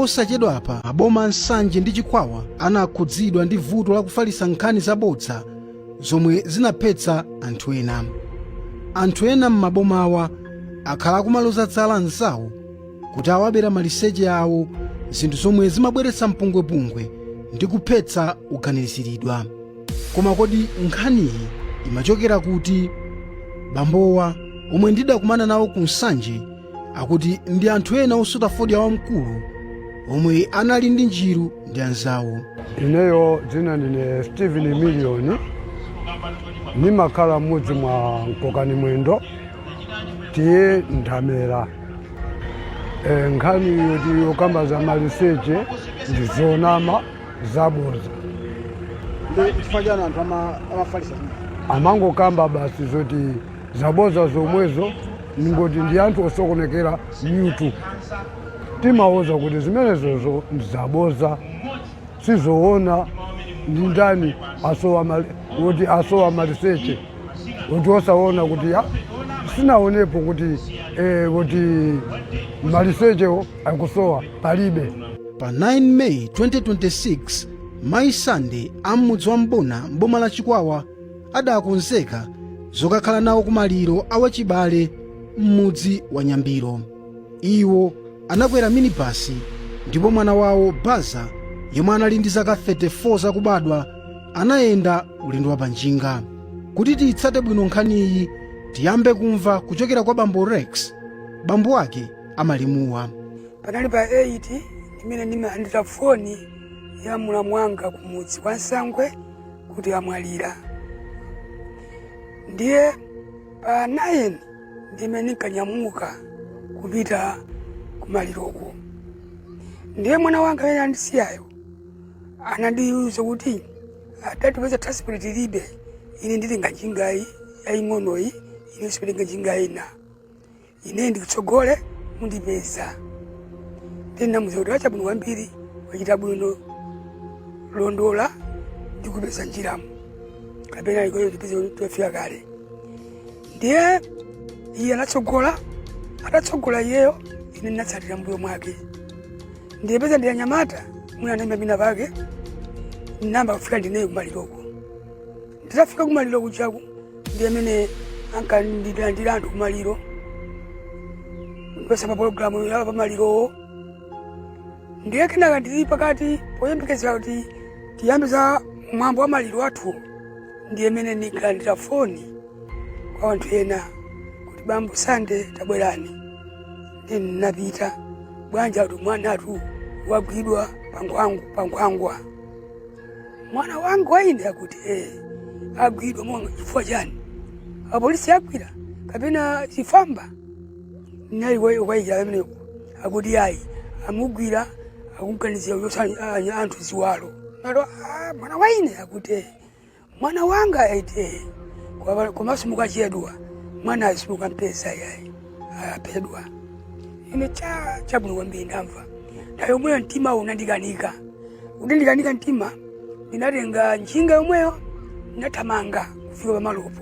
Posachedwapa maboma a Nsanje ndi Chikwawa anakhudzidwa ndi vuto la kufalitsa nkhani zabodza zomwe zinaphetsa anthu ena. Anthu ena m'mabomawa akhala akumaloza zala anzawo kuti awabera maliseche awo, zinthu zomwe zimabweretsa mpungwepungwe ndi kuphetsa oganiziridwa. Koma kodi nkhaniyi imachokera kuti? Bambowa, omwe ndidakumana nawo ku Nsanje, akuti ndi anthu ena osuta fodya wamkulu omwe anali ndi njiru ndi anzawo ineyo dzina ndine steven million ndimakhala m'mudzi mwa mkokani mwendo T/A nthamera e, nkhani yoti yokamba za maliseche ndi zonama zaboza chifukwa chani anthu amafalitsa amangokamba basi zoti zaboza zomwezo ndingoti ndi anthu osokonekera mitu timawauza kuti zimenezozo ndizaboza sizoona ndi ndani asowa mali- kuti asowa maliseche kuti osaona kuti ya sinaonepo kuti eh, kuti malisechewo akusowa palibe pa 9 meyi 2026 mayi sande am'mudzi wa mbuna mboma la chikwawa adakonzeka zokakhala nawo kumaliro a wachibale m'mudzi wa nyambiro iwo anakwera minibasi ndipo mwana wawo baza yemwe anali ndi zaka 34 zakubadwa anayenda ulendo wa panjinga kuti tiyitsate bwino nkhaniyi tiyambe kumva kuchokera kwa bambo rex bambo wake a malemuwa panali pa 8 imene ndimalandira foni ya mulamu wanga kumudzi kwa nsangwe kuti amwalira ndiye pa 9 ndimene ndinkanyamuka kupita kumaliroko ndiye mwana wanga amene andisiyayo anandiuza kuti atate poti transport tilibe ine nditenga njingayi yaying'onoyi ine sipitenga njinga ina ine ndikutsogole mundipeza ndinamuza kuti wachabwino kwambiri wachita bwino londola ndikupeza m'njiramu kapena uko tipeze kuti tafika kale ndiye iye anatsogola atatsogola iyeyo ine ndinatsatira m'mbuyo mwake ndiye peza ndi anyamata mwina anaimba mina pake namba kufika ndineyo kumaliroko nditafika kumaliro kujaku ndiye mene ankandilandira anthu kumaliro ndipeza pa pologalamu ya pamalirowo ndiye kenaka ndili pakati poyembekezera kuti tiyambe za mwambo wa maliro athu ndiye mene ndikalandira foni kwa anthu ena kuti bambo sande tabwerani ndiye ndinapita bwanja kuti mwana athu wagwidwa pankhwangu pankhwangwa mwana wangu wa ine akuti eh, agwidwa monga chifukwa chani apolisi agwira kapena chifamba nali waikira ameneko akuti ayi amugwira akumganizira kuchotsa anthu ziwalo nalo ah, mwana wa ine akuti eh, Mwana wanga ati ee komanso mukachedwa mwanayo simukumpeza yayi aphedwa ine cha chabwino kwambiri ndamva nthawi yomweyo mtima unandikanika utandikanika mtima ndinatenga njinga yomweyo ndinathamanga kufika pamalopo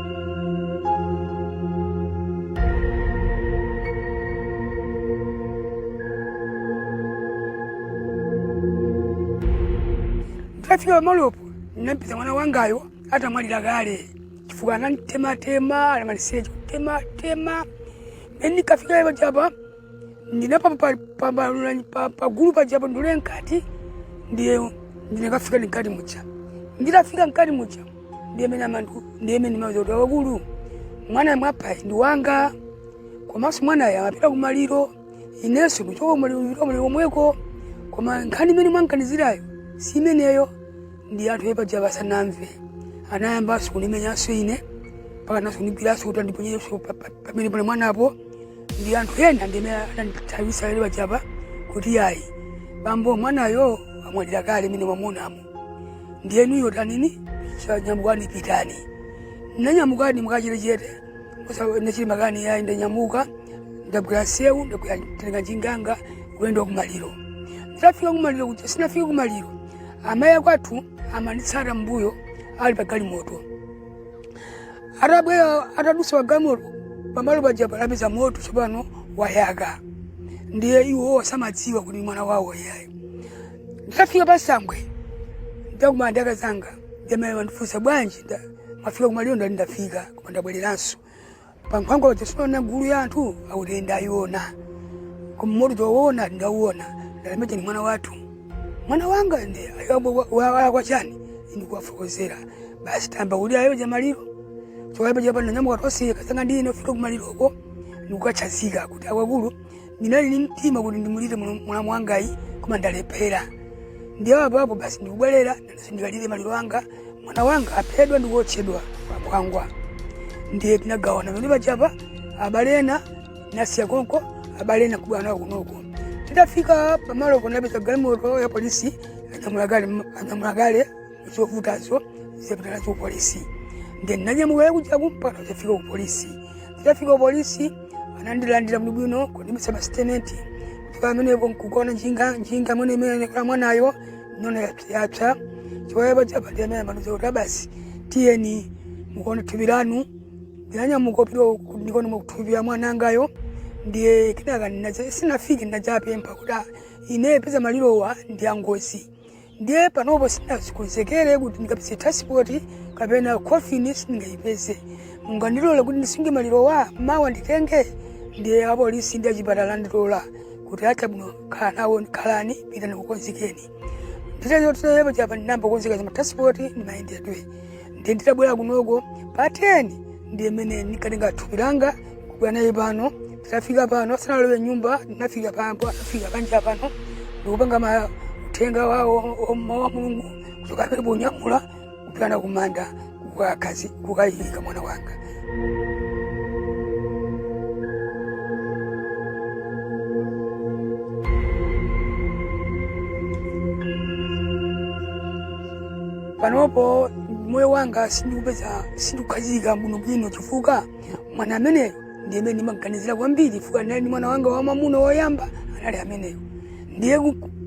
Ndafika pamalopo ndinampeza mwana wangayo atamwalira kale chifukwa anamtematema anamalizitsa kutematema mene ndikafika ipo japa pagulu pajapo ndule mkati ndiye ndinakafika ni mkati muja nditafika mkati muja ndiye mene amandu ndiye mene mauza kuti wakulu mwana mwapa ndi wanga komanso mwanayo apita kumaliro inenso kuchoka kumaliro omweko koma nkhani imene mwamganizirayo si imeneyo ndi anthu apaja asanamve anayambanso kunimenyanso ine mpakana so kunigwiranso kuti andiponyere pamene pali mwanapo ndi anthu ena ndi amene anandithawitsa lero pajapa kuti ayi bambo mwanayo amwalira kale mene mwamunamu ndiyenuyo tanini nyamukani pitani ndinanyamukadi mukachetechete sindachite makani yayi ndanyamuka ndabwera msewu ndakatenga njinga yanga kuyenda kumaliro nditafika kumaliro kuja sinafika kumaliro amayi akwathu amanditsata mmbuyo ali pa galimoto atabwera atadusa pagalimoto pamalo paja panapeza moto tsopano wayaka ndiye iwo samadziwa kuti mwana wawo iyayi nditafika pa sangwe ndakumana ndi akazanga ndimene mandifunsa bwanji nda- mwafika kumaliro ndati ndafika koma ndabwereranso pankhwangwa paja sunaone gulu ya anthu akuti ndayiona koma moto kuwona ndauona ndalemete ni mwana wathu mwana wanga ndiye alakwa wachani ndikuwafokozera basi tayamba kulira uko kuja maliro kuchoka pajapa ndanyamuka 2 o'clock kasanga ndi ino kupita kumaliroko ndikukatsanzika kuti akuluakulu ndinali ni mtima kuti ndimulire mlamu wangayi koma ndalephera ndiye apo apo basi ndikubwerera nanenso ndikalire maliro anga mwana wanga aphedwa ndikuotchedwa pakwangwa ndiye tinagawana pamene pajapa abale ena ndasiya konko abale ena kubwera nawo kunoko titafika pamalo tinapeza galimoto ya polisi anyamula kale anyamula kale zovutazo apita nazo kupolisi then nanyamuka kuja kumpaka zafika kupolisi zafika kupolisi anandilandira bwino bwino kundipatsa masitetimenti kuchoka pamenepo nkukaona njinga njinga mwene imene anakwera mwanayo ndaona yapsayapsa chiwayapa pajapa ndi pamene amandiuza kuti a basi tiyeni mukaone thupi lanu ndanyamuka kupita ndikaone thupi la mwana wangayo ndiye kenaka ndinadza- ndinafika ndinadzapempha kuti "Ah, ine poti malirowa ndi a ngozi ndiye panopo sinazikonzekere kuti ndikapeze transport kapena coffin sindingayipeze mungandilole kuti ndisunge malirowa mawa nditenge ndiye apolisi ndi achipatala andilola kuti ah chabwino khala nawo khalani pitani kakonzekeni nditachokayo pajapa ndinayamba kukonzeka za matransport ndi mayendedwe ndiye nditabwera kunoko pa 10 ndi mmene ndinakatenga thupi langa la mwanayu pano nafika pano sanalowe m'nyumba nafika pompo nafikira panja pano ndikupanga ma uthenga wawo wa mawu a mulungu kuchoka pompo kunyamula kupita naye kumanda kukakazi kukayika mwana wanga panopo moyo wanga sindikupeza sindikukhazikika muno bwino chifukwa mwana ameneyo ndiye amene ndimaganizira kwambiri chifukwa anali ndi mwana wanga wamwamuna woyamba anali ameneyo ndiye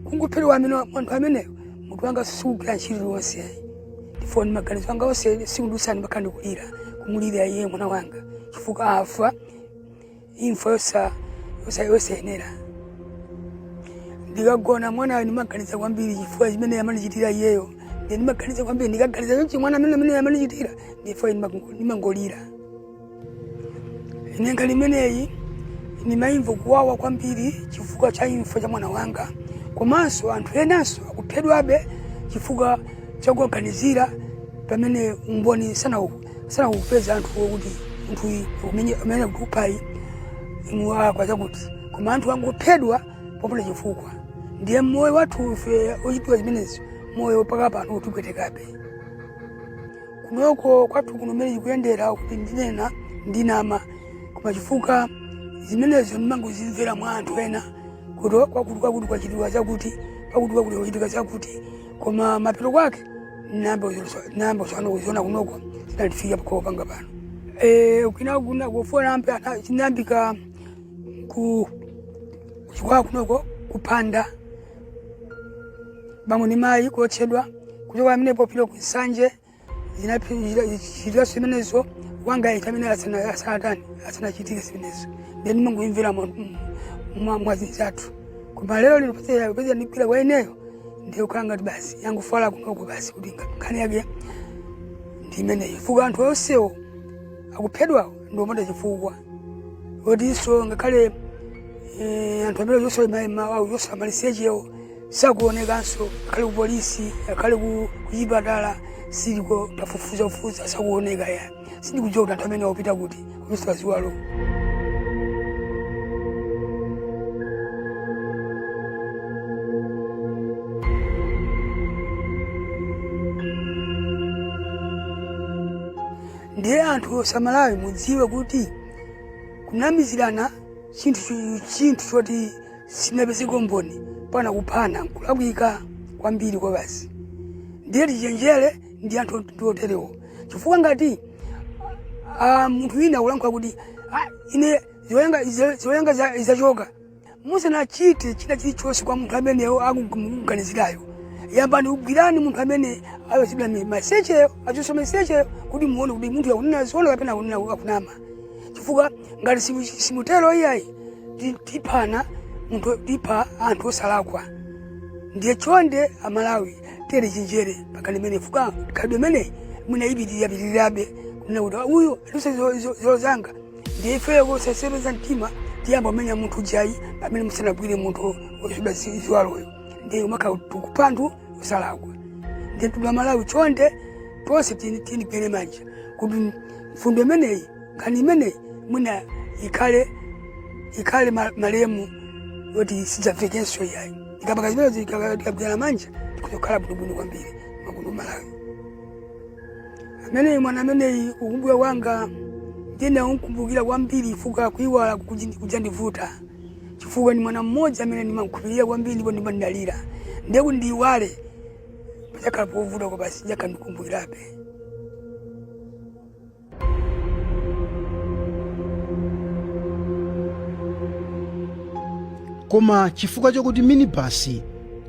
kungophedwa amene munthu ameneyo munthu wosasokoneza ntchito iliyonse ayi ndipo ndi maganizo anga onse tsiku lililonse mpaka ndikulira kumulira iye mwana wanga chifukwa afa imfa yosa yosa yosayenera ndikagona mwanayo ndimaganiza kwambiri chifukwa chimene amanichitira iyeyo Ndiye ndimaganiza kwambiri ndikaganiza chonchi mwana amene amene amanichitira ndipo ndimangolira. Ine nkhani imeneyi ndimayimva kuwawa kwambiri chifukwa cha imfa ya mwana wanga komanso anthu enanso akuphedwabe chifukwa chakuwaganizira pamene umboni sanaupeze anthu kuti munthu uyu amene akuphayi mwalakwa chakuti koma anthu akungophedwa popanda chifukwa ndiye moyo wathu ife kuchitira zimenezo moyo mpaka pano ukutipwetekabe kunoko kwathu kuno mmene chikuyendera kuti ndinena ndinama koma chifukwa zimenezo ndimangozimvera mwa anthu ena kuti kwakuti kwakuti kwachitika chakuti kwakuti kwakuti kwachitika chakuti koma mapeto kwake namba usana kuziona kunoko zinandifika pakopanga pano Eh, kwina kuna kufuna ampe ana- chinayambika ku kuchokera kunoko kupanda bambo ndi mayi kuotchedwa kuchokera amene popita ku nsanje zinachitika zimenezo wanga ita amene asana- asanatani asanachitike zimenezo then timangoyimvera mwa anzathu koma lero lino peza peza nigwira kwa ineyo ndiyo kukhala ngati basi yangofala kunoko basi kuti ngati nkhani yake ndi imeneyo chifukwa anthu onsewo akuphedwawo ndiotchedwa chifukwa odinso ngakhale eh, anthu amene zonse maimvawawo zosowa malisechewo sakuonekanso ngakhale kupolisi ngakhale ku- kuchipatala saliko tafufuza fufuza sakuoneka ya sindikudziwa kuti anthu amenewa akupita kuti osowa ziwalo ndiye anthu aMalawi mudziwe kuti kunamizirana chinthu chu- chinthu choti sinapezeko mboni mpaka kuphana nkulakwika kwambiri kwabasi ndiye tichenjere ndi anthu ot- oterewo chifukwa ngati ah, munthu wina akulankhula kuti "Ah, ine zoyenga iza- zoyenga za- izachoka musanachite china chilichonse kwa munthu amene akumuganizirayo yambani mugwireni munthu amene wachotsedwa malisecheyo wachotsedwa malisecheyo kuti muone kuti munthu akunena zoona kapena akunena akunama chifukwa ngati simu- simutero iyayi ti- tiphana munthu tipha anthu osalakwa ndiye chonde amalawi tichenjere pa nkhani imeneyi chifukwa khalidwe limeneli mwina lipitirirapitirirabe kunena kuti uyu watichotsa zozanga ndiye ifeyo kusaleza mtima tiyamba kumenya munthu ujayi pamene musanagwire munthu osowa ziwaloyo ndiye timakhala tikupha anthu osalakwa ndiye mtundu wa malawi chonde tonse tini- tiyeni tigwirane manja kuti mfundo imeneyi nkhani imeneyi mwina ikhale ikhale ma- malemu yoti isadzachitikenso iyayi tikapanga zimenezo tikagwirana manja tidzakhala bwinobwino kwambiri mwa kuno ku malawi ameneyi mwana ameneyi kukumbukira kwanga ndimamkumbukira kwambiri chifukwa kuiwala kukuchi- kuchandivuta chifukwa ndi mwana mmodzi amene ndimamkhulupirira kwambiri ndipo ndimandalira ndiye kuti ndiiwale padzakhala povuta kwa basi ndikadakumbukirabe koma chifukwa chakuti minibasi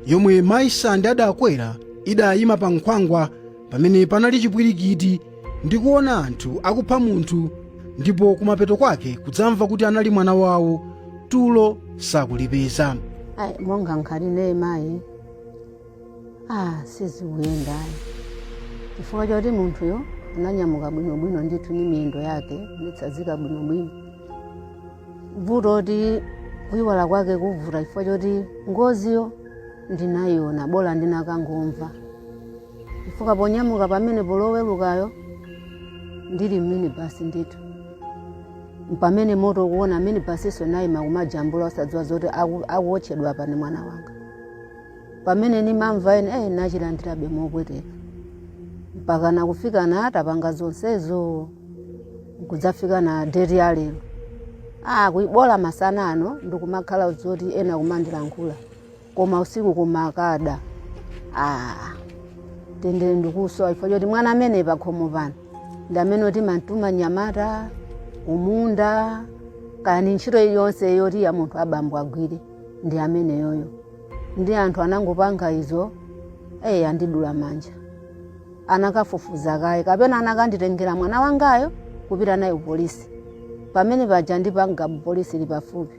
yomwe mayi sande adakwera idayima pa nkhwangwa pamene panali chipwirikiti ndi kuona anthu akupha munthu ndipo kumapeto kwake kudzamva kuti anali mwana wawo tulo sakulipeza ayi monga nkhati ine mayi ah sizikuyenda ayi chifukwa choti munthuyo ananyamuka bwinobwino ndithu ni miyendo yake nitsazika bwinobwino vuto loti kuyiwala kwake kukuvuta chifukwa choti ngoziyo ndinayiona bola ndinakangomva chifukwa ponyamuka pamene Lowerukalo ndili m'minibasi ndithu mpamene moto ukuona minibasiso nayima kumajambula osadziwa zoti aku- akuwotchedwapa ni mwana wanga pamene nimamva ine eh, nachilandirabe mopweteka mpaka nakufika na atapanga zonsezo kudzafika na deti ya lero ah, bola masana ano ndikumakhala zoti ena kumandilankhula koma usiku kumakada ah, mtendere ndikusowa chifukwa choti mwana amene pakhomo pano ndi amene oti ndimamtuma mnyamata kumunda kaya ndi ntchito iliyonse yoti ya munthu abambo agwire ndi ameneyoyo ndi anthu anangopanga izo eyi andidula manja akanafufuza kaye kapena anakanditengera mwana wangayo kupita naye kupolisi pamene paja ndi pa bwalo polisi ili pafupi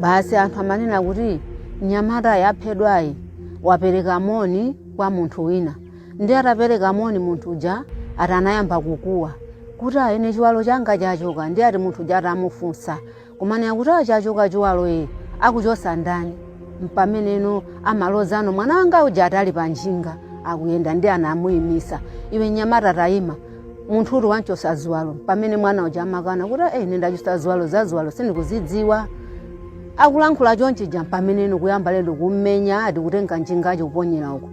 basi anthu amanena kuti mnyamata waphedwayi wapereka moni kwa munthu wina ndi atapereka moni munthu uja ati anayamba kukuwa kuti ayi ine chiwalo changa chachoka ndi ati munthu uja atamufunsa kumanena kuti "Ah, chachoka chiwalo iyi akuchosa ndani mpameneno amaloza ano mwana wanga uja atali pa njinga akuyenda ndi anamuyimitsa iwe mnyamata tayima munthu uyu ati wamchosa ziwalo pamene mwana uja amakana kuti eyi ine ndachosa ziwalo za ziwalo sindikuzidziwa akulankhula chonchija pamene iwo kuyamba lero kummenya ati kutenga njinga yo kuponyera uko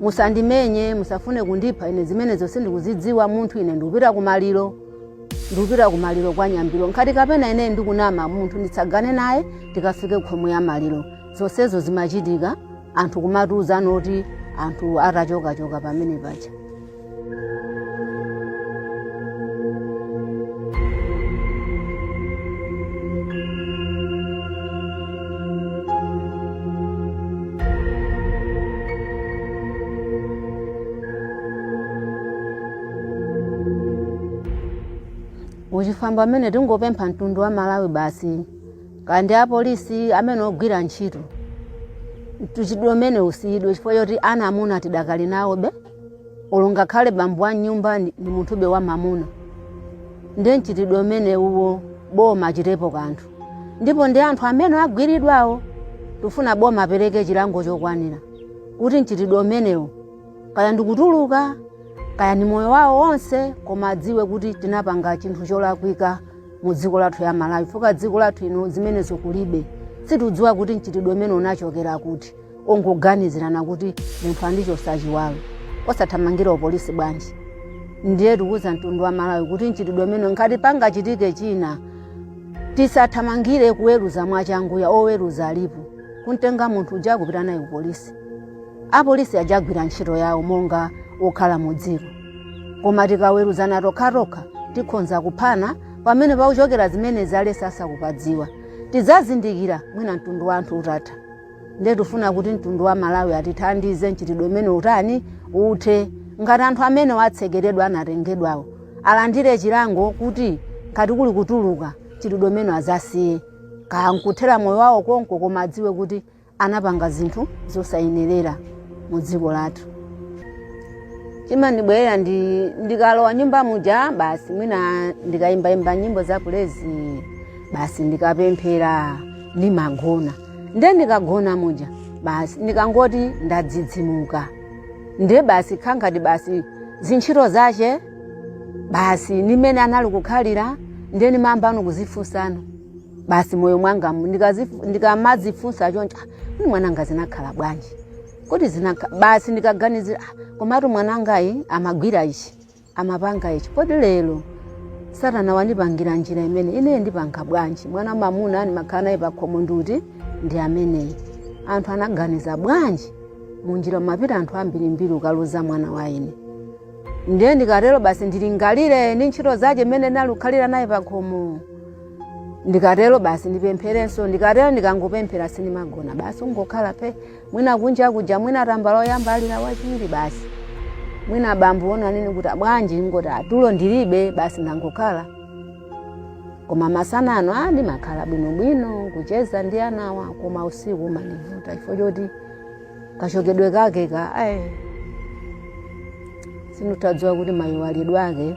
musandimenye musafune kundipha ine zimenezo sindikuzidziwa munthu ine ndikupita kumaliro ndikupita kumaliro kwa nyambiro nkhati kapena ine ndikunama munthu nditsagane naye tikafike khomo la maliro zonsezo zimachitika anthu kumatiuzana kuti anthu atachokachoka pamene paja muchifamba amene tingopempha mtundu wa malawi basi kaya ndi apolisi amene ogwira ntchito mchitidwe umenewu usiyidwe chifukwa choti ana amuna tidakali nawobe olo ngakhale bambo wa m'nyumba ndi ndi munthube wa mamuna ndi mchitidwe umene uwo boma lichitepo kanthu ndipo ndi anthu amene agwiridwawo tifuna boma apereke chilango chokwanira kuti mchitidwe umenewo kaya ndikutuluka kaya ndi moyo wawo wonse koma adziwe kuti tinapanga chinthu cholakwika mu dziko lathu la malawi chifukwa dziko lathu ino zimenezo kulibe sitikudziwa kuti mchitidwe umenewu unachokera kuti ongoganizirana kuti munthu andichotsa chiwalo osathamangira kupolisi bwanji ndiye tikuuza mtundu wa malawi kuti mchitidwe umenewu ngati pangachitike china tisathamangire kuweruza mwachangu ayi oweruza alipo kumtenga munthu uja nkupita naye kupolisi apolisi akagwira ntchito yawo monga okhala mu dziko koma tikaweruzana tokhatokha tikhonza kuphana pamene pakuchokera zimenezi anthu sakupadziwa tidzazindikira mwina mtundu wa anthu utatha nde tifuna kuti mtundu wa malawi atithandize mchitidwe umenewu utani uthe ngati anthu amene atsekeredwa anatengedwawo alandire chilango kuti ngati kuli kutuluka mchitidwe umenewu azausiye kaya nkuthera moyo wawo konko koma adziwe kuti anapanga zinthu zosayenerera mu dziko lathu chimandibwerera ndi ndikalowa nyumba muja basi mwina ndikayimbayimba nyimbo za praise basi ndikapemphera ndimagona nde ndikagona muja basi ndikangoti ndadzidzimuka nde basi kumangoti basi zintchito zache basi nimene anali kukhalira nde nimayambano kuzifunsano basi moyo mwanga mu- ndikazifu- ndikamadzifunsa choncho "Ah, kodi mwananga zinakhala bwanji kodi zinakha basi ndikaganizira "Ah, komatu mwanangayi amagwira ichi amapanga ichi kodi lero satana wandipangira njira imene ineyo ndipanga bwanji mwana mamuna ndimakhala naye pakhomo nduti ndi ameneyi anthu anaganiza bwanji munjira mumapita anthu ambirimbiri nkukaluza mwana wa ine ndiye ndikatero basi ndilingalire ndi ntchito zache imene ndinalukhalira naye pakhomo ndikatero basi ndipempherenso ndikatero ndikangopemphera sindimagona basi ungokhala phe mwina kunja kuja mwina tambala oyamba alira wachiwiri basi mwina bambo unena nini kuti bwanji ngoti atulo ndilibe basi ndangokhala koma masana ano ndimakhala bwinobwino kucheza ndi anawa koma usiku umandivuta chifukwa choti kachokedwe kake ka ayi sindinadziwa kuti mayiwalidwe ake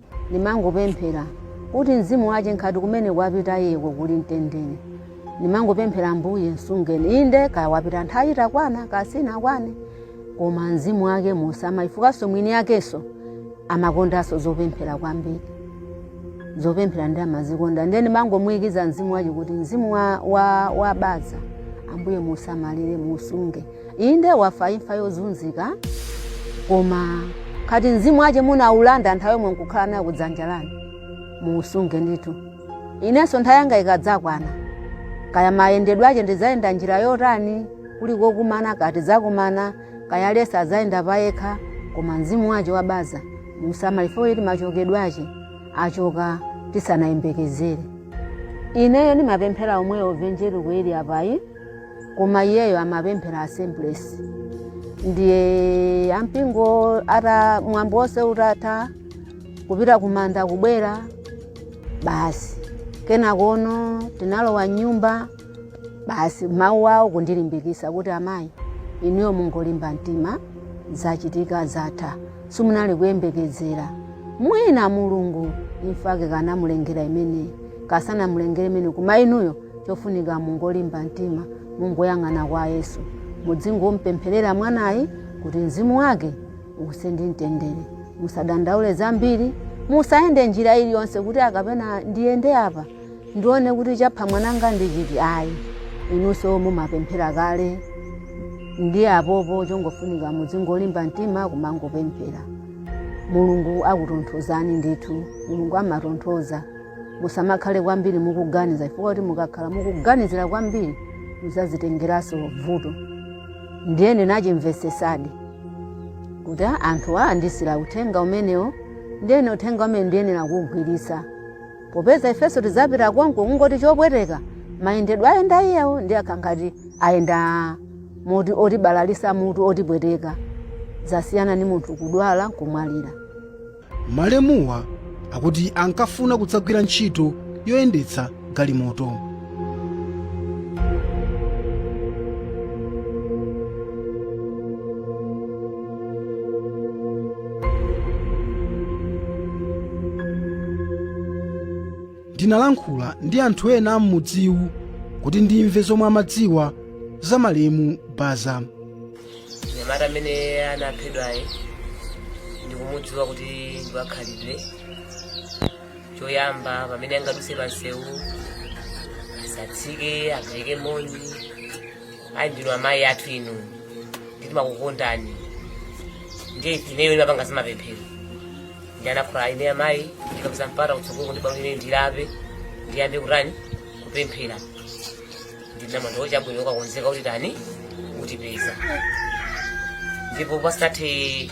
Nimangopemphera kuti mzimu wache nkhati kumene wapita iyeko kuli mtendere. Nimangopemphera Ambuye msungeni. Inde kaya wapita nthawi itakwana kaya sinakwane koma mzimu wake musamale chifukwanso mwini yakenso amakondanso zopemphera kwambiri. Zopemphera ndiye amazikonda ndiye nimangomuikiza mzimu wache kuti mzimu wa Baza Ambuye musamalire musunge. inde wafa imfa yozunzika koma khati mzimu wace munaulandira nthawi yomwe nkukhala nayo kudzanja lanu muusunge ndithu inenso nthawi yanga ikadzakwana kaya mayendedwe ace ndidzayenda njira yotani kuli kokumana kaya tidzakumana kaya aliyense adzayenda payekha koma mzimu wace wa Baza musamale chifukwa choti machokedwe ace acoka tisanayembekezere ineyo ndimapemphera omwewo Evanjeliko ili apayi koma iyeyo amapemphera assemblies ndiye ampingo atatha mwambo wonse utatha kupita kumanda kubwera basi kenakono tinalowa nyumba basi mawu awo kundilimbikisa kuti amayi inuyo mungolimba mtima zachitika zatha simunali kuyembekezera mwina mulungu imfa yake kaya anamulengera imeneyi kaya sanamulengere imeneyi koma inuyo chofunika mungolimba mtima mungoyang'ana kwa yesu mudzingompempherera mwanayi kuti mzimu wake uuse mu mtendere musadandaule zambiri musayende njira iliyonse kuti kapena ndiyende apa ndione kuti chapha mwananga ndi chiti ayi inunso mumapemphera kale ndiye apopo chongofunika mudzingolimba mtima kumangopemphera mulungu akutonthozani ndithu mulungu amatonthoza musamakhale kwambiri mukuganiza chifukwa kuti mukakhala mukuganizira kwambiri muzazitengeranso vuto ndiye ndinachimvesesadi kuti "Ah, anthu a andiuzira uthenga umenewo ndiye ndi uthenga umene ndiyenera kuwugwiritsa popeza ifenso tidzapita konko kungoti chopweteka mayendedwe ayenda iyewo ndiye akhala ngati ayenda moti otibalalisa mutu otipweteka zasiyana ndi munthu kudwala kumwalira Malemuwa akuti ankafuna kudzagwira ntchito yoyendetsa galimoto. Ndinalankhula ndi anthu ena am'mudziwu kuti ndimve zomwe amadziwa za malemu Baza. Mnyamata amene anaphedwayu ndikumudziwa kuti ndi wakhalidwe choyamba pamene angaduse pansewu asatsike apereke moni ayi ndinu amayi athu inu ndimakukondani ndiye ifeyo timapanga zamapemphero ndiye anandiuza ine amayi ndikapeza mpata kutsogoloku ndibwere ndilape ndiyambe kutani kupemphera ndinamuuza kuti chabwino ukakonzeka utani utipeza ndipo pasathe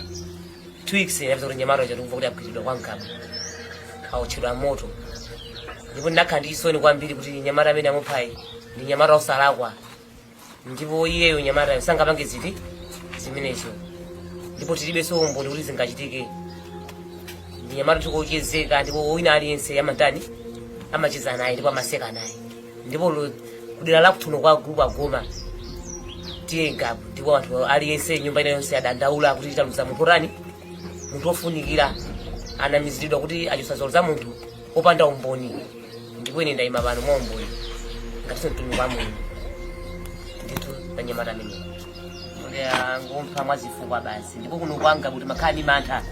two weeks ndapeza kuti nyamata uja tikumva akuti agwiridwa kwa Ngabu awotchedwa moto ndipo ndinakhala ndi chisoni kwambiri kuti nyamata amene amuphayu ndi nyamata osalakwa ndipo iyeyo nyamatayo sangapange zinthu zimenezo ndipo tilibenso umboni kuti zingachitike ndi nyamata wochezeka ndipo wina aliyense amatani amacheza naye ndipo amaseka naye ndipo lu- kudera la kwathu kuno kwa gulupu a Goma tiyengapo ndipo anthu aliyense nyumba ina yonse adandaula kuti taluza munthu otani munthu ofunikira anamiziridwa kuti achosa ziwalo za munthu opanda umboni ndipo ine ndayima pano mwa umboni ngatinso mtumiki wa mulungu ndithu panyamata ameneyu angomupha mwa zabodza basi ndipo kuno kwa Ngabu timakhala ndi mantha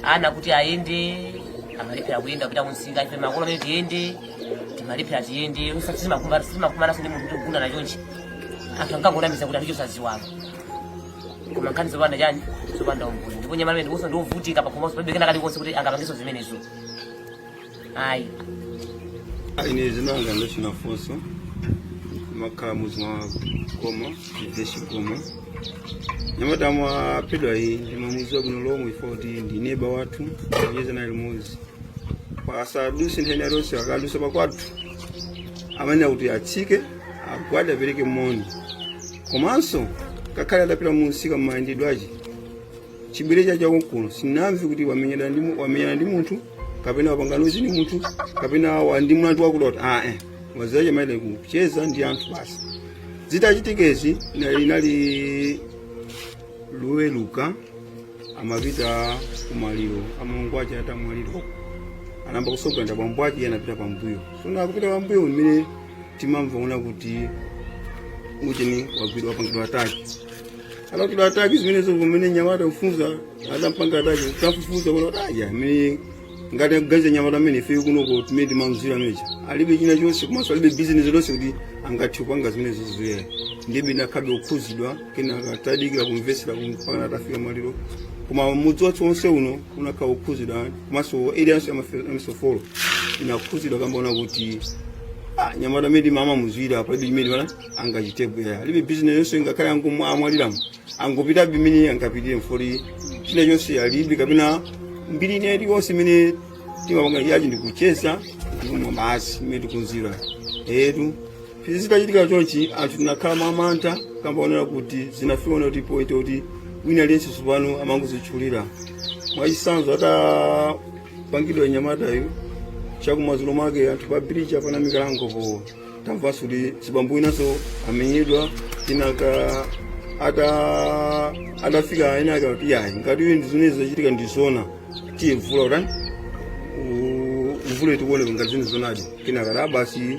ana kuti ayende amalephera kuyenda kupita kumsika ife makolo amene tiyende timalephera tiyende usiku sitimakumana sitimakumananso ndi munthu kuti kugundana chonchi anthu ankangonamiza kuti anthu ochosa ziwalo koma nkhani zopanda chani zopanda umboni ndipo nyamata amene ndiponso ndiovutika pakhomanso palibe kena kalikonse kuti angapangenso zimenezo ayi ine dzina langa ndachina funso ndimakhala muzi mwa Goma GVH Goma nyamata amaphedwayu ndimamuziwa bwino lomwe chifukwa choti ndi neba wathu timacheza naye limodzi pasaduse nthawi zonse akadusa pakwathu amayenera kuti atsike agwade apereke moni komanso ngakhale atapita munsika mmayendedwe ache chibwerere chache konkuno sinamve kuti wamenyana ndi mu- wamenyana ndi munthu kapena wakangana ndi munthu kapena wa- ndi mlandu wakuti kuti ayi amaziwa kumayenda kucheza ndi anthu basi zitachitikezi inali Loweruka amapita kumaliro amulamu ake atamwalira anayamba kutsogolera bambo ake iye anapita pambuyo tsono akupita pambuyo mmene timamva una kuti ucheni wagwidwa wapangidwa ataki alakidwa ataki zimenezo pamene mnyamata kufunza adampanga ataki kafufuza kuona kuti aya amene ngati akuganiza mnyamata ameneyo ife kunoko mmene timamudziwira ameneyo alibe china chonse komanso alibe bizinesi iliyonse kuti angathe kupanga zimenezo zoyenera ndiyebe ndakhalabe kukhudzidwa kenaka tadikira kumvetsera mpaka atafika maliro koma mudzi wathu wonse uno unakhala wokhudzidwa komanso eliyanso yamisofolo inakhudzidwa kamba koona kuti ah, mnyamata amene timamudziwira palibe chimene mwana angachitepo iyayi alibe bizinesi yonse ingakhale angomwa amwaliramo angopitabe imene angapitire mfoli china chonse alibe kapena mbiri ina iliyonse imene timapanga yachi ndikucheza ndikumwa basi imene tikumudziwira etu izi zitachitika chonchi anthu tinakhala mwa mantha kamba onera kuti zinafiona kuti poite kuti wina aliyense tsopano amangodzitchulira mwachitsanzo atapangidwa mnyamatayo chakumadzulo mwake anthu pa bridge apanga mikalango po tamvanso kuti mzibambo winanso amenyedwa tinaka ata atafika amayi ake kuti yayi ngati uyu ndi zimene zachitika ndi zona ndiye mvula utani mvula itione ngati zimene zonadi kenaka basi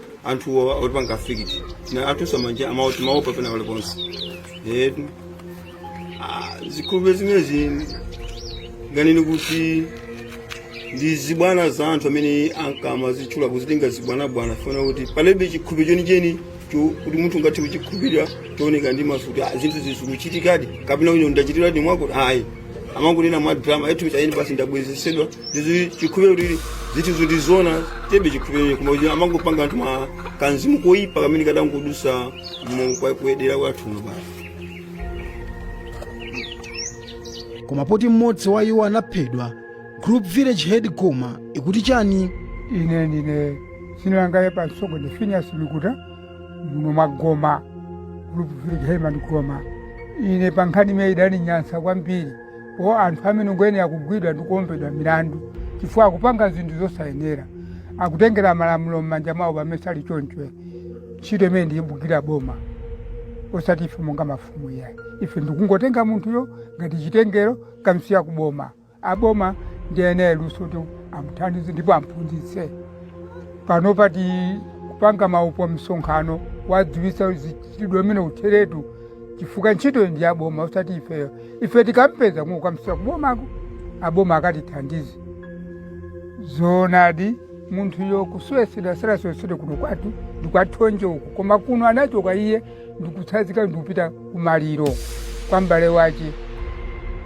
anthuwo olipanga affect na atunso manje amayenda timaopa pena pali ponse etu Ah, zikhulupiriro zimenezi ndinganene kuti ndi zibwana za anthu amene ankamazitchula kuzitenga zibwanabwana poona kuti palibe chikhulupiriro chenicheni cho- kuti munthu ungathe kuchikhulupirira chooneka ndi maso kuti ah, zinthu zizikuchitikadi kapena kuti ndachitiradi umboni ayi amangonena mwa drama eti ku China basi ndabwezesedwa ndiye chikhulupiriro kuti zinthuzo ndi zoona ndiyebe chikhulupiriro koma kuti amangopanga anthu ma kamzimu koyipa kamene kadangodusa mu- kwa- kuyedera kwathu kuno basi koma poti mmodzi wa iwo anaphedwa group village head goma ikuti bwanji ine ine dzina langa pamsonkho ndi Finias Mikuta muno mwa Goma group village headman Goma ine pa nkhani imene idaninyansa kwambiri o anthu amene ngoyenera kugwidwa ndi kuimbidwa milandu chifukwa akupanga zinthu zosayenera akutengera malamulo m'manja mwawo pamene sali choncho ntchito imeneyi ndi yogwira boma osati ife monga mafumu iyayi ife ndikungotenga munthuyo ngati chitengero kukamsiya kuboma aboma ndi eni luso kuti amuthandize ndipo amphunzitse pano pati kupanga ma upo msonkhano kuwadziwitsa mchitidwe umenewu utheretu chifukwa ntchitoyo ndi yaboma osati ifeyo ife tikampeza kuno kukamsiya kubomako aboma akatithandize zoonadi munthuyo kusowetsedwa asasowetsedwe kuno kwathu ndi kwa Thonje uku koma kuno anachoka iye ndikutsazika ndikupita kumaliro kwa m'bale wace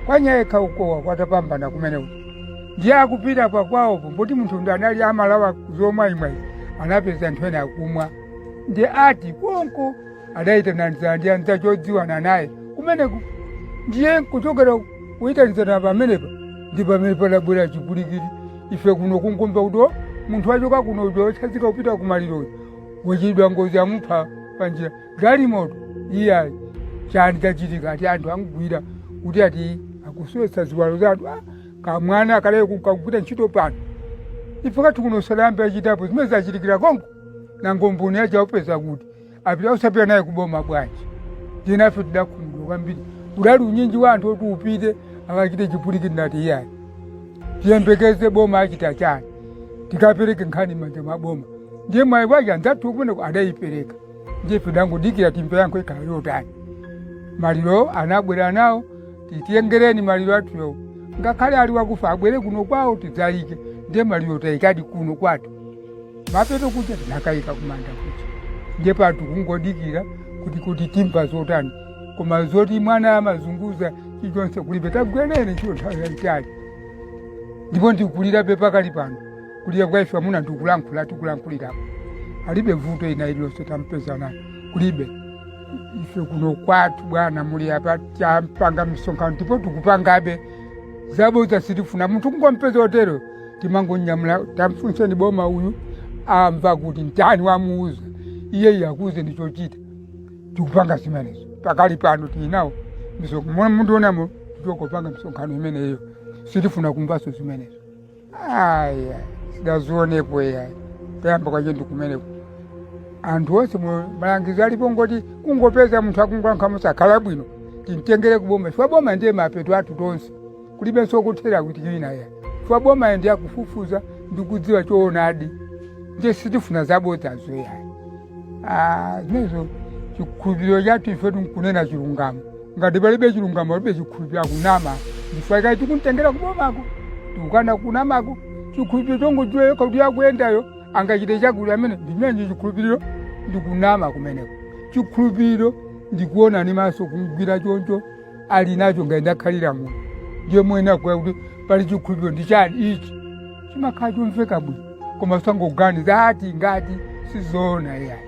kwa Nyayekha uko kwa Tapambana kumeneko ndiye akupita pakwaopo poti munthu ndiye anali amalawa zomwayimwayi anapeza anthu ena akumwa ndiye ati konko adayitanizana ndi anzache odziwana naye kumeneko ndiye kuchokera kuyitanizana pamenepa ndi pamene padabwera chipwirikiti ife kuno kungomva kuti "Oh, munthu wachoka kuno uja wotsazika kupita kumaliroyo wachitidwa ngozi amupha panjira galimoto iyayi chani chachitika ati anthu amugwira kuti ati akusowetsa ziwalo za anthu Ah, kamwana akale kukagwira ntchito pano ife kathu kuno salambe achitapo zimene zachitikira konko nango mboni yace aupeza kuti apita osapita naye kuboma bwanji ndinafe tidakhumudwa kwambiri udali unyinji wa anthu oti upite akachite chipwirikiti nati iyayi tiyembekeze boma achita chani tikapereke nkhani m'manja mwa boma ndiye mayi wa nzathu kumeneko adayipereka ndiye pidangodikira timve yankho ikhala yotani maliro anabwera nawo titiyengereni maliro athuyo ngakhale ali wakufa abwere kuno kwawo tidzayike ndiye maliro tayikadi kuno kwathu mapeto kuja tinakayika kumanda kuja ndiye pa tikungodikira kuti kuti timva zotani koma zoti mwana amazunguza chilichonse kulibe wagwira ntchito nthawi yayitali ndipo ndikulirabe pakali pano kulira kwa ife amuna ndikulankhula tikulankhulirapo alibe vuto ina iliyonse tampeza nayo kulibe ife kuno kwathu bwana muli apa tampanga misonkhano ndipo tikupangabe zabodza sitifuna munthu kungompeza otero timangonyamula tamfunseni boma uyu amva kuti mtani wamuuza iyeyo akuuze ndi chochita tikupanga zimenezo pakali pano tili nawo misonkhano mwa mundionamo tikupanga misonkhano imeneyo sitifuna kumvaso zimenezo aya sitidazionepo yayi tayamba kwacho ndikumeneko anthu onse mu- malangizo alipo ngoti kungopeza munthu akungoyankha mosakhala bwino timtengere kuboma chifukwa boma ndiye mapeto athu tonse kulibenso kuthera kuti ina ya chifukwa boma ndiye akufufuza ndikudziwa choonadi ndiye sitifuna zabodzazo yayi Ah, zimenezo chikhulupiriro chathu ife tinkunena chilungamo ngati palibe chilungamo palibe chikhulupiriro akunama ndife iyayi tikumtengera kubomako tikukana kunamako chikhulupiriro chongodziwa yokha kuti akuyendayo angachite chakuti amene ndimenenji chikhulupiriro ndikunama kumeneko chikhulupiriro ndikuona ni maso kumgwira choncho ali nacho ngati ndakhalira muno ndiye mwina akuti pali chikhulupiro ndi chani ichi chimakhala chomveka bwino koma tisangoganiza ati ngati sizoona iyayi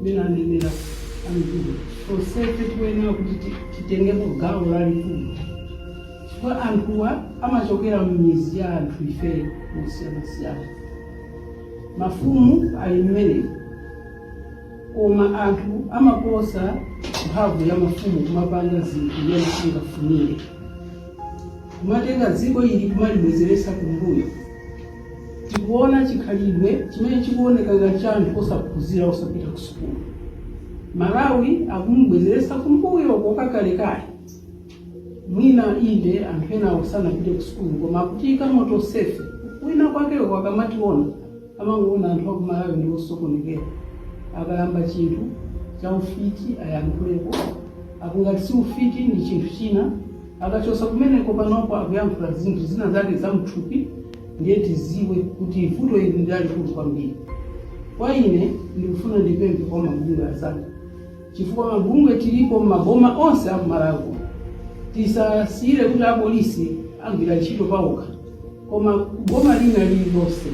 ndinanenera ambiri tonsefe tikuyenera kuti ti- titengepo gawo lalikulu chifukwa anthuwa amachokera m'mizi ya anthu ife mosiyanasiyana mafumu ali mmene koma anthu amaposa mphamvu ya mafumu kumapanga zinthu mmene angafunire kumatenga dziko ili kumalibwezeretsa kumbuyo Tikuona chikhalidwe chimene chikuoneka ngati cha anthu osaphunzira osapita kusukulu. Malawi akumubwezeretsa kumbuyoko kwa kalekale. Mwina inde anthu enawa sanapite kusukulu koma akutiyikamo tonsefe. Kwina kwakeko akamationa amangoona anthu aku Malawi ndi osokonekera. Akayamba chinthu cha ufiti ayankhuleko, apo ngati si ufiti ndi chinthu china. Akachoka kumeneko panopo akuyankhula zinthu zina zake za mthupi ndiye tiziwe kuti vuto ili ndi lalikulu kwambiri. Kwa ine ndikufuna ndipemphe kwa mabungwe azanga chifukwa mabungwe tilipo m'maboma onse a Malawi tisasiyire kuti apolisi agwira ntchito paokha koma boma lina lililonse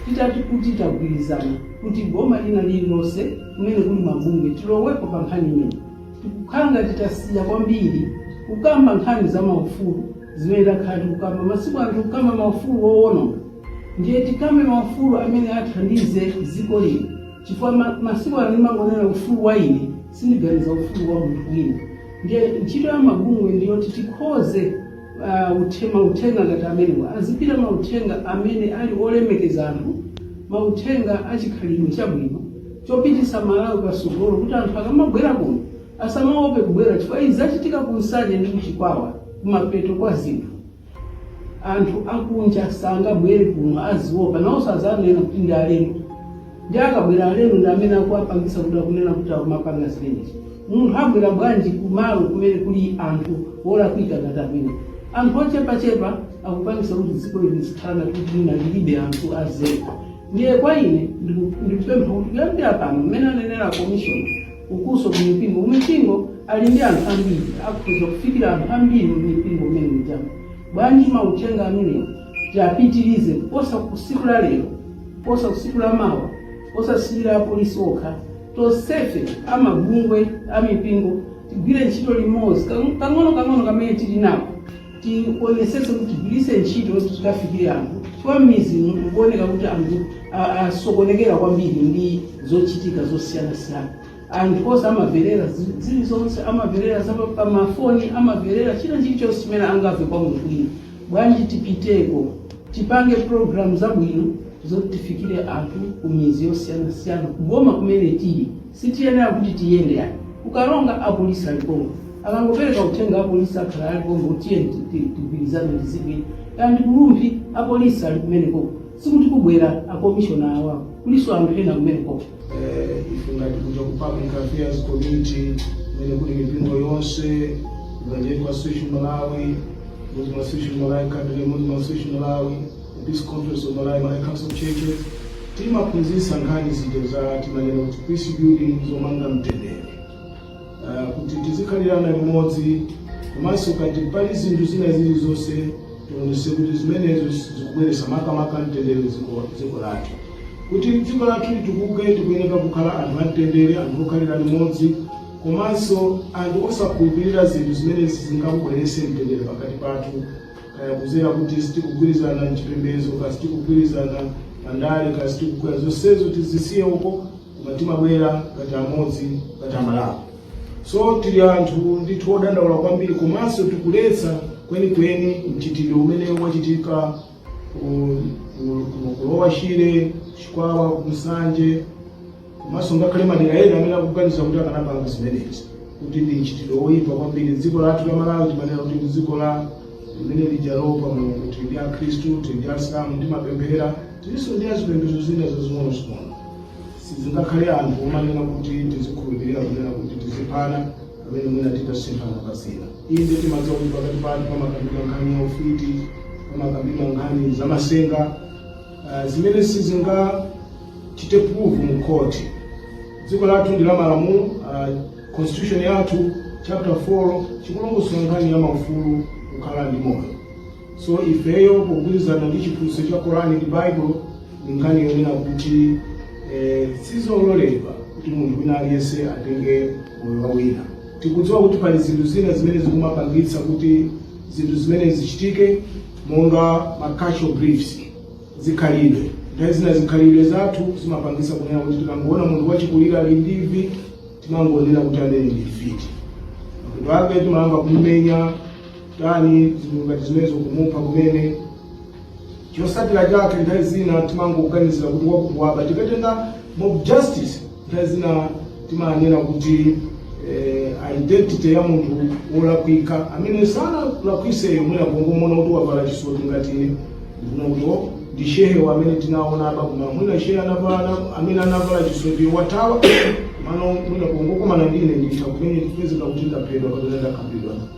titati kuti tagwirizana kuti boma lina lililonse kumene kuli mabungwe tilowepo pa nkhani imene Tikukhala ngati tasiya kwambiri kukamba nkhani za maufulu zimene takhala tikukamba. Masiku ano tikukamba maufulu owononga, ndiye tikambe maufulu amene athandize dziko lino chifukwa ma, masiku ano ndimangonena ufulu wa ine, sindiganiza ufulu wa munthu wina. Ndiye ntchito ya mabungwe ndiyoti tikhoze uh, uthe- mauthenga ngati amenewa azipita mauthenga amene ali olemekeza anthu mauthenga achikhalidwe chabwino chopitisa malawi pasogolo kuti anthu akamabwera kuno asamaope kubwera chifukwa izi zachitika ku nsanje ndi kuchikwawa kumapeto kwa zinthu anthu akunja sangabwere kuno aziopa nawonso azawanena kuti ndi alendo Ndiye akabwera alendo ndi amene akuwapangisa kuti akunena kuti akumapanga zimenezi. Munthu abwera bwanji kumalo kumene kuli anthu olakwika ngati amenewa? Anthu ochepachepa akupangisa kuti dziko lino lizikhala ngati kuti mwina lilibe anthu azelu. Ndiye kwa ine ndiku- ndikupempha kuti kuyambira pano mmene anenera komishoni ukunso ku mipingo kumipingo ali ndi anthu ambiri akhoza kufikira anthu ambiri mumipingo mmene mujamo bwanji mauthenga amenewo tipitilize kuposa kusiku la lero kuposa kusiku la mawa kuposa siku la polisi okha tonsefe amabungwe amipingo tigwire ntchito limodzi Kang- kang'ono kang'ono kamene tili nako tionetsetse kuti tigwiritse ntchito kuti tikafikire anthu chifukwa midzi ikuoneka kuti anthu a- asokonekera kwambiri ndi zochitika zosiyanasiyana anthu onse amamvera zi- zilizonse amamvera za pa- pa mafoni amamvera china chilichonse chimene angamve kwa munthu wina Bwanji tipiteko tipange program zabwino zoti tifikire anthu kumidzi yosiyanasiyana kuboma kumene tili sitiyenera kuti tiyende ayi ku Karonga apolisi ali konko akangopereka uthenga apolisi akhala ali konko tiyeni ti- ti- tigwirizane ndi zabwino kaya ndi ku Rumphi apolisi ali kumenekoko sikuti kubwera akomishona awawo kulinso anthu ena kumenekoko eh, ife ngati kuja ku public affairs committee imene kuli mipingo yonse ngati association malawi muslim association malawi quadria muslim association malawi episcopal conference of malawi malawi council of churches timaphunzitsa nkhani zija za timanena kuti peace building zomanga mtendere Ah, kuti tizikhalirana limodzi komanso ngati pali zinthu zina zilizonse tionese kuti zimenezo zikubweretsa makamaka mtendere m'dziko dziko lathu kuti dziko lathu litukuke tikuyenera kukhala anthu amtendere anthu okhalira limodzi komanso anthu osakhulupirira zinthu zimene zingabweretse mtendere pakati pathu kaya kuzera kuti sitikugwirizana mchipembedzo kaya sitikugwirizana pandale kaya sitikugwirizana zonsezo tizisiye uko koma timabwera ngati amodzi ngati amalawi so tili anthu ndithu odandaula kwambiri komanso tikuletsa kwenikweni mchitidwe umene wachitika ku- ku- ku- ku lower shire chikwawa ku nsanje komanso ngakhale madera ena amene akuganiza kuti akanapanga zimenezi kuti ndi mchitidwe woyipa kwambiri dziko lathu la malawi timanena kuti ndi dziko la limene lija loopa mulungu tili ndi akhristu tili ndi asilamu timapemphera tilinso ndi azipembedzo zina zazing'onozing'ono sizingakhale anthu omanena kuti tizikhulupirira kunena kuti tiziphana pamene mwina titasemphana pazina inde timadziwa kuti pakati pathu pamakambidwa nkhani ya ufiti pamakambidwa nkhani za masenga uh, zimene sizingachite prove mu khoti dziko lathu ndi la malamulo uh, constitution yathu chapter 4 ikulongosola nkhani ya maufulu kukhala ndi moyo so ifeyo pogwirizana ndi chiphunzitso cha korani ndi baibulo ndi nkhani yonena kuti eh, sizololedwa kuti munthu wina aliyense atenge moyo wa wina tikudziwa kuti pali zinthu zina zimene zikumapangitsa kuti zinthu zimene zichitike monga ma cultural beliefs zikhalidwe nthawi zina zikhalidwe zathu zimapangitsa kunena kuti tikangoona munthu wachikulira ali ndi imvi timangonena kuti amene ndi mfiti mapeto ake timayamba kumumenya dani zinthu ngati zimenezo kumupha kumene chosatira chake nthawi zina timangoganizira kuti wakuwaba tikatenga mob justice nthawi zina timaona kuti eh, identity ya munthu wolakwika amene sanalakwiseyo mwina kungomuona kuti wavala chisoti ngati ine ndikunena kuti ndi shehe amene tinaona apa koma mwina shehe anavala amene anavala chisoti wathawa ndiye mwina kungokomana ndine nditha kumene kupezeka kuti ndaphedwa kapena ndakambidwa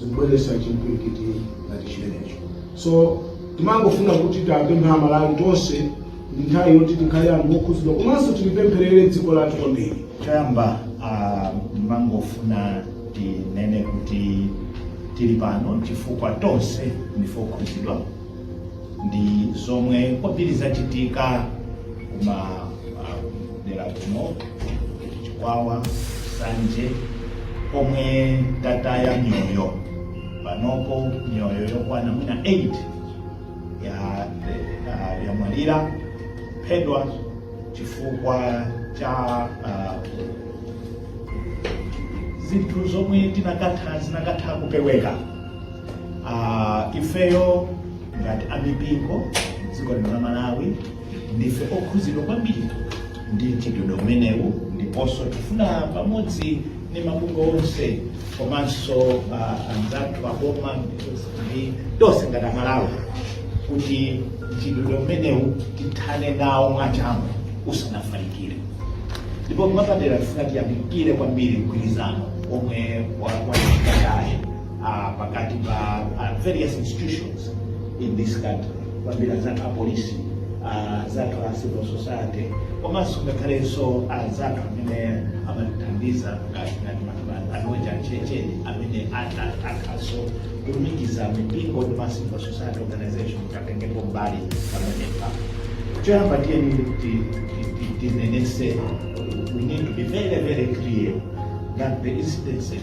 zikubweretsa chimpwirikiti ngati chimenecho so timangofuna kuti tipemphe amalawi tonse ndi nthawi yoti tikhale anthu okhudzidwa komanso tilipempherere dziko lathu kwambiri choyamba ah, ndimangofuna tinene kuti tili pano chifukwa tonse ndife okhudzidwa ndi zomwe kwambiri zachitika kuma ah, dera kuno chikwawa nsanje komwe tataya miyoyo panopo miyoyo yokwana mwina 8 ya uh, yamwalira aphedwa chifukwa cha uh, zinthu zomwe tinakatha zinakatha kupeweka Ah, ifeyo ngati amipingo mdziko lino la malawi ndife okhudzidwa kwambiri ndi mchitidwe umenewu ndiponso tifuna pamodzi ndi mabungwe onse komanso ah, anzathu aboma ndi tonse ngati amalawi kuti mchitidwe umenewu tithane nawo mwachangu usanafalikire ndipo mwapadera tifuna tiyamikire kwambiri mgwirizano omwe wachitika kale uh, pakati pa uh, various institutions in this country kwambiri anzathu apolisi uh, anzathu a civil society komanso ngakhalenso anzathu amene amatithandiza ngati ngati mafana anoja checheni amene ata- akhalanso kulumikiza mipingo ndi ma civil society organization kuti atengepo mbali pamenepa choyamba tiyeni ti- ti- ti- tinenetse we need to be very very clear that the incidences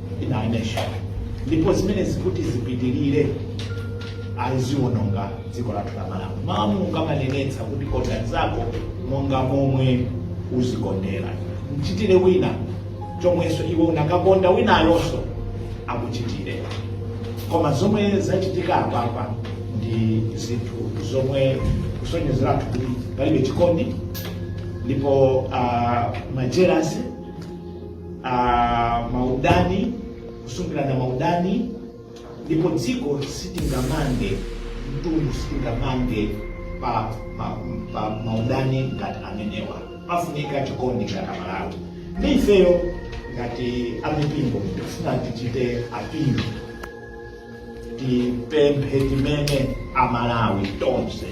in our nation ndipo zimene zikati zipitirire ziwononga dziko lathu la malawi mawu a mulungu amanenetsa kuti konda mzako monga momwe uzikondera mchitire wina chomwenso iwe unakakonda winayonso akuchitire koma zomwe zachitika apapa ndi zinthu zomwe kusonyezeratu kuti palibe chikondi ndipo uh, majerasi ah, maudani kusungirana maudani ndipo dziko sitingamange mtundu sitingamange pa, pa, pa maudani ngati amenewa pafunika chikondi ngati amalawi ndi ifeyo ngati amipingo tikufuna tichite apingo tipemphe tsimene amalawi tonse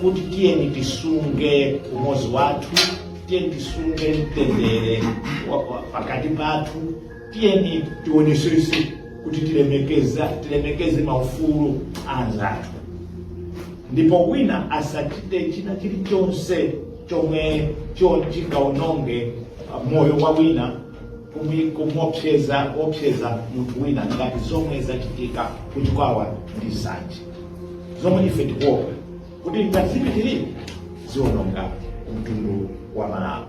kuti tiyeni tisunge umozi wathu tiyeni tisunge mtendere wa- wa- pakati pathu tiyeni tionesese kuti tilemekeza tilemekeze maufulu a anzathu ndipo wina asachite china chilichonse chomwe cho- chingaononge uh, moyo wa wina kumuopseza opseza munthu wina ngati zomwe zachitika ku chikwawa ndi nsanje zomwe ife tikuopa kuti ngati zipitirire ziononga mtundu wa malawi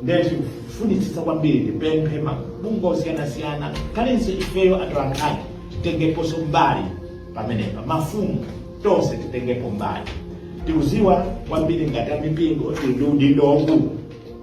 ndiye tikufunitsitsa kwambiri tipemphe mabungwe osiyanasiyana kayanso ifeyo atolankhani titengeponso mbali pamenepa mafumu tonse titengepo mbali tikuziwa kwambiri ngati amipingo tili ndi udindo waukulu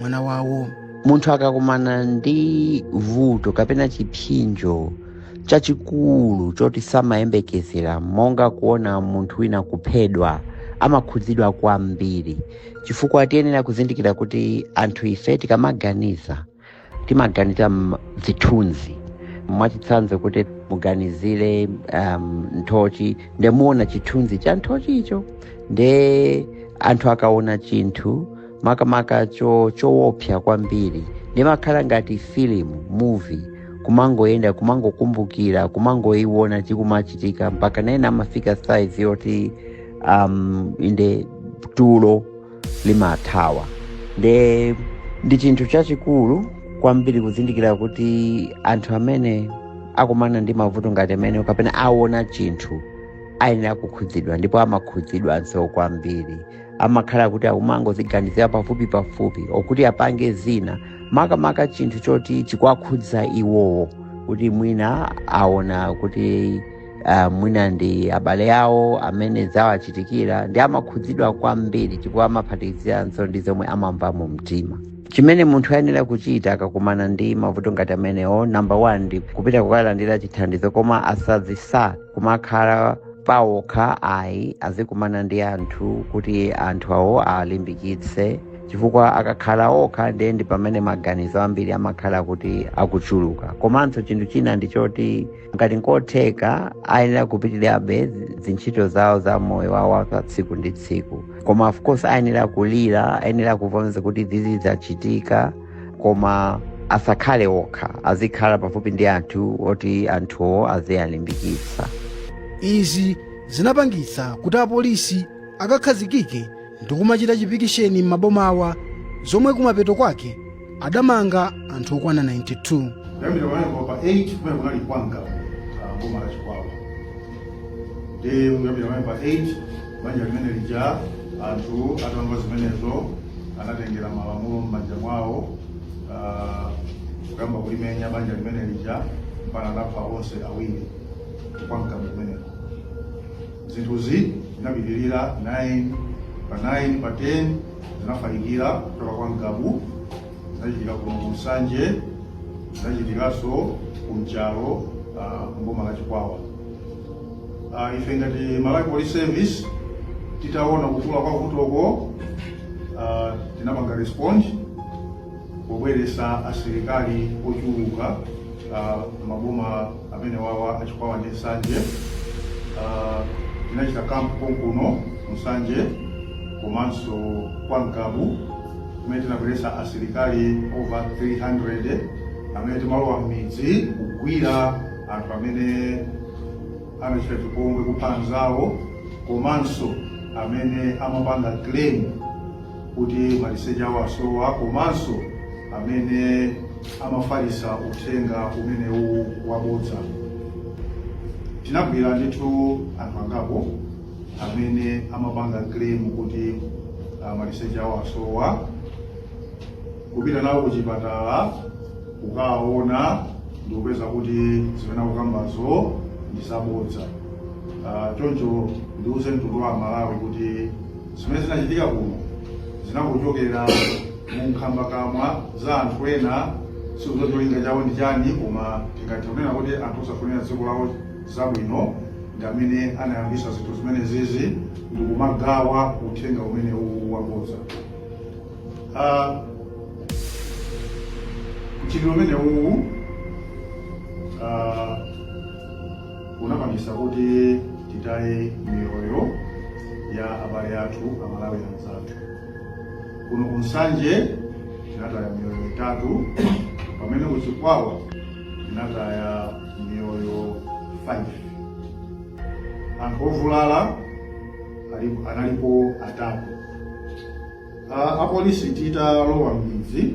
mwana wawo munthu akakumana ndi vuto kapena chipsinjo chachikulu choti samayembekezera monga kuona munthu wina kuphedwa amakhudzidwa kwambiri chifukwa tiyenera kuzindikira kuti anthu ife tikamaganiza timaganiza m'zithunzi mwachitsanzo kuti muganizire um, nthochi nde muona chithunzi cha nthochicho nde anthu akaona chinthu makamaka cho chowopsa kwambiri nde imakhala ngati filimu muvi kumangoyenda kumangokumbukira kumangoyiwona chikumachitika mpakana ena amafika saizi yoti um, inde tulo limathawa nde ndi chinthu chachikulu kwambiri kuzindikira kuti anthu amene akumana ndi mavuto ngati amene kapena aona chinthu ayenera kukhudzidwa ndipo amakhudzidwanso kwambiri amakhala kuti akumangoziganizira pafupi pafupi olo kuti apange zina makamaka chinthu choti chikuwakhudza iwowo kuti mwina aona kuti uh, mwina ndi abale awo amene zawachitikira ndi amakhudzidwa kwambiri chifukwa amaphatikiziranso ndi zomwe amamva mu mtima chimene munthu ayenera kuchita akakumana ndi mavuto ngati amenewo namba 1 ndi kupita kukalandira chithandizo koma asazisiye kumakhala paokha ayi azikumana ndi anthu kuti anthu awo alimbikitse chifukwa akakhala okha ndiye ndi pamene maganizo ambiri amakhala kuti akuchuluka komanso chinthu china ndi choti ngati nkotheka ayenera kupitirabe ndi ntchito zawo za moyo wawo wa tsiku ndi tsiku koma of course ayenera kulira ayenera kuvomereza kuti izi zachitika koma asakhale okha azikhala pafupi ndi anthu oti anthuwo aziwalimbikitsa izi zinapangitsa kuti apolisi akakhazikike ndi kumachita chipikisheni m'mabomawa zomwe kumapeto kwake adamanga anthu okwana 92 kuyambira kunali kwa pa 8 kumene kunali kwa Ngabu boma la chikwawa ndi kuyambira pamene pa 8 banja limene lija anthu atamva zimenezo anatengera malamulo m'manja mwawo ah, kuyamba kulimenya banja limene lija mpaka anapha onse awiri kwa Ngabu kumeneko zinthuzi zinapitirira 9 pa 9 pa 10 zinafalikira kuchoka kwa Ngabu zinachitika kuno ku Nsanje, zinachitikanso ku Nchalo ah, mboma la Chikwawa. Ah, Ife ngati Malawi Police Service titaona kukula kwa vutoko ah, tinapanga respond pobweresa asilikali ochuluka ah, m'maboma amenewawa a Chikwawa ndi nsanje Ah, tinachita camp konkuno nsanje komanso kwa Ngabu kumene tinabweretsa asilikali over 300 amene timalowa m'midzi kugwira anthu amene amachita chipongwe kupha anzawo komanso amene amapanga claim kuti maliseche awo asowa komanso amene amafalisa uthenga umenewu wabodza tinagwira ndithu anthu angapo amene amapanga claim kuti ah, maliseche awo asowa kupita nawo kuchipatala kukaona ndikupeza kuti zimene akukambazo ndi zabodza Ah, choncho ndiuze mtundu wa amalawi kuti zimene zinachitika kuno zinangochokera mu nkhambakamwa za anthu ena sitikudziwa cholinga chawo ndi chani koma tingathe kunena kuti anthu osafunira dziko lawo zabwino ndi amene anayambisa zinthu zimenezizi ndikumagawa uthenga umene uwu wabodza uh, mchitidwe umene uwu uh, unapangisa kuti titaye miyoyo ya abale athu amalawi anzathu kuno kunsanje tinataya miyoyo itatu pamene kuchikwawa tinataya miyoyo 5 anthu ovulala ali- analipo atatu Ah, apolisi titalowa m'midzi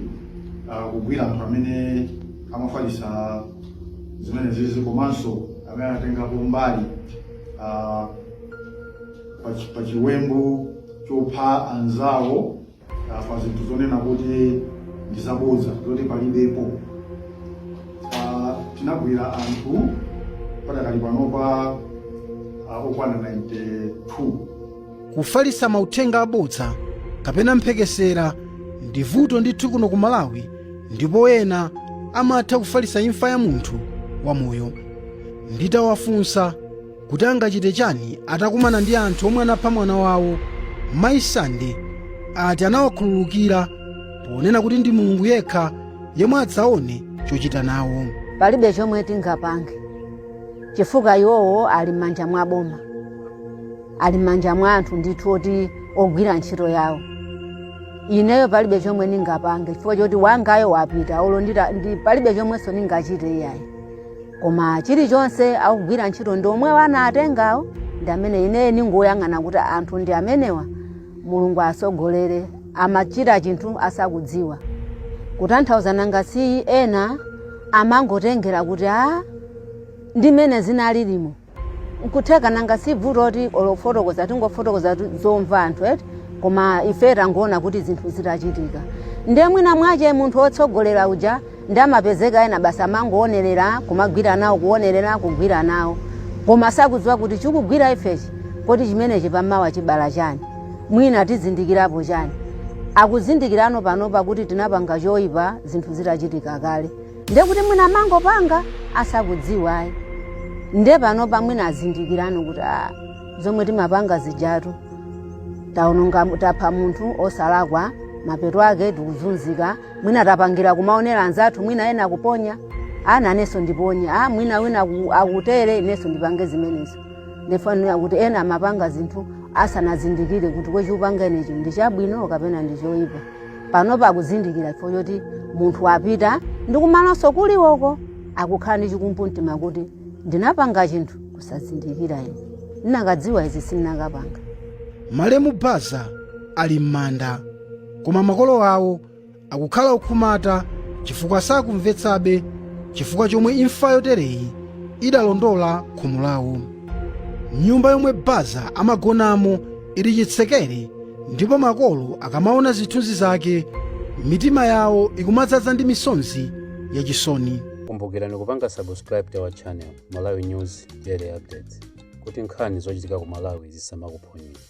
ah, kugwira anthu amene amafalitsa zimenezizi komanso amene anatengapo mbali ah, pa chi- pa chiwembu chopha anzawo Ah, pa zinthu zonena kuti ndi zabodza zoti palibepo Ah, tinagwira anthu padakali panopa ah, okwana 92 kufalitsa mauthenga abodza kapena mphekesera ndi vuto ndithu kuno ku malawi ndipo ena amatha kufalitsa imfa ya munthu wamoyo nditawafunsa kuti angachite chani atakumana ndi anthu omwe anapha mwana wawo mayi sande ati anawakhululukira ponena kuti ndi mulungu yekha yemwe adzaone chochita nawo palibe chomwe tingapange chifukwa iwowo ali m'manja mwa boma ali m'manja mwa anthu ndithu oti ogwira ntchito yawo ineyo palibe chomwe ndingapange chifukwa choti wangayo wapita olo ndita- ndi- palibe chomwenso ndingachite iyayi koma chilichonse akugwira ntchito ndi omwewo anawatengawo ndi amene ine ningoyang'ana kuti anthu ndi amenewa mulungu asogolere amachita chinthu asakudziwa kutanthauza nanga si ena amangotengera kuti a ndimene zinalilimo nkutheka nanga si bvuto kuti olo kufotokoza tikungofotokoza tu- zomva anthu eti koma ife tangoona kuti zinthu zitachitika ndiye mwina mwache munthu wotsogolera uja ndiye amapezeka ena basi amangoonerera kumagwira nawo kuonerera kugwira nawo koma sakudziwa kuti chikugwira ifechi kodi chimenechi pamawa chibala chani mwina tizindikirapo chani akuzindikirano panopa kuti tinapanga choyipa zinthu zitachitika kale Ndiye kuti mwina amangopanga asakudziwa ayi. Ndiye panopa mwina azindikirano kuti a zomwe timapanga zijatu taononga tapha munthu osalakwa mapeto ake tikuzunzika mwina tapangira kumaonera anzathu mwina ena akuponya a inenso ndiponye a mwina wina aku- akutere inenso ndipange zimenezo ndifanana kuti ena amapanga zinthu asanazindikire kuti kodi chikupanga inechi ndi chabwino kapena ndi choyipa panopa akuzindikira chifukwa choti munthu wapita ndi kumalonso kuliwoko akukhala ndi chikumbumtima kuti ndinapanga chinthu kusazindikira ine ndinakadziwa izi sindinakapanga malemu baza ali m'manda koma makolo awo akukhala okhumudwa chifukwa sakumvetsabe chifukwa chomwe imfa yotereyi idalondola khomo lawo nyumba yomwe baza amagonamo ili chitsekere ndipo makolo akamaona zithunzi zake mitima yawo ikumadzaza ndi misonzi yachisoni kumbukirani kupanga subscribe to our channel malawi news daily updates kuti nkhani zochitika ku malawi zisamakuphonyeni